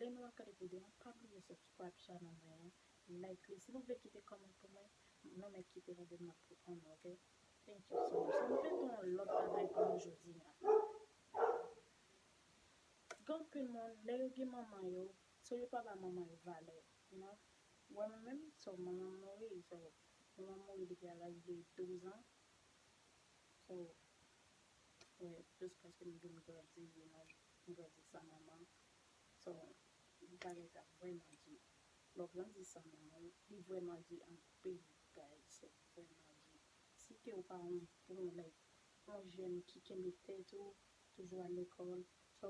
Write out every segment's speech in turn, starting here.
Lè nou ap gade video an pa bliye subscribe channel mwen an like li si nou vle kite comment pou mwen nou mèt kite la den map reponn ok thank you so much nou vle gen yon lòt bagay pou nou jodi an gen anpil moun lè yo gen manman yo so yo pa ba manman yo valè you know wè mwen menm so manmanm mouri so manmanm mouri depi a laj de 12 ans so wè jis paske m vin grandi you know. Ou grandi san manman so bagay sa vreman di lè w grandi san manman w li vreman di anpil bagay se vreman di si ke w pa yon bon nèg yon jèn ki kenbe tèt ou toujou al lekòl so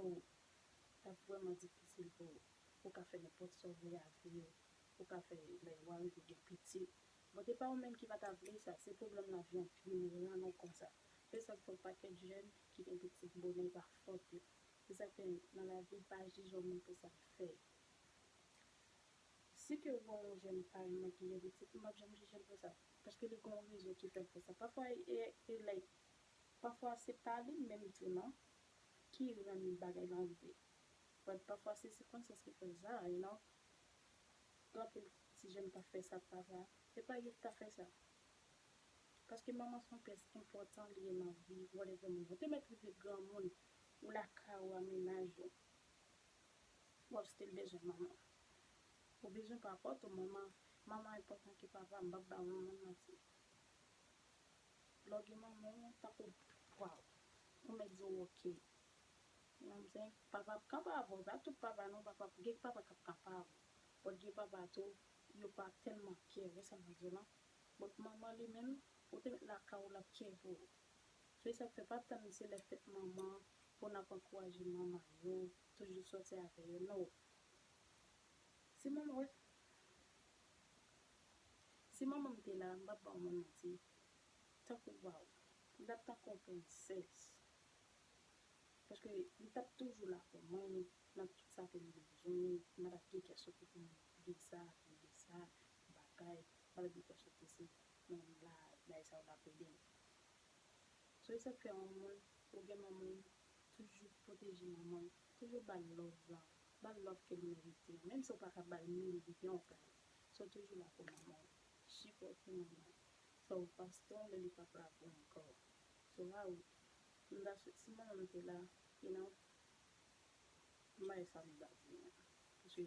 lap vreman difisil pou ou ka fè nenpòt sa w vle a vi w ou ka fè lè wa rive gen pitit bon se pa ou menm ki pa ta vle sa se pwoblèm lavi anpil moun rann ou konsa. Se sak fè yon pakèt jèn ki gen piti k bonè pa fòt yo. Se sak fè nan lavi pa jije yon moun pou sa l fè. Si ke ou wè yon jèn pa yon nèg ki gen piti m pap janm jije l pou sa. Paske li gen yon rezon ki fè l fè sa. Pafwa e like pafwa se pa li menm tou nan ki rann bagay lan rive. But pafwa se sikonstans ki fè l sa you know. Gen anpil ti jèn k ap fè sa pafwa. E pa yo ki ta fè sa. Paske manman son pyès enpòtan li ye nan vi whatever moun. Ou te mèt rive granmoun, ou lakay ou a mennaj ou, wap still bezwen manman. Ou bezwen papòt ou manman, manman enpòtan ke papa m pap ba manman manti. Lè w gen manman w tankou waw, ou mèt di w ok. You know what I'm saying? Papa ap kanpe avè w, pa tout papa non, papa gen papa kap kanpe avè w, but gen papa tou yo pa tèlman care, ou wè sa mwen di w lan? Bòt manman li menm ou te met lakay ou lap tjeve ou se sak fè pa tann se lè fèt manman pou nap ankouraje manman yo toujou sòti avè yo no si manman wè si manmanm te la mpap baw mwen manti tankou waw li tap tankou yon princess paske li tap toujou la pou mwen nan tout sa kem bezwen mwen tap gen kè sote pou mwen visa visa. bagay wap di fè chante se nan bagay sa yo lap edem so e sak fè yon moun ou gen manmanw toujou pwoteje manmanw toujou bal love lan bal love kel merite an menm si ou paka bal mil yon kay so toujou la pou manmanw sipòte manmanw so pastè lè li pap la pou ankò so raout m ta swete si manmanm te la e nan bagay sa m ta di an paske.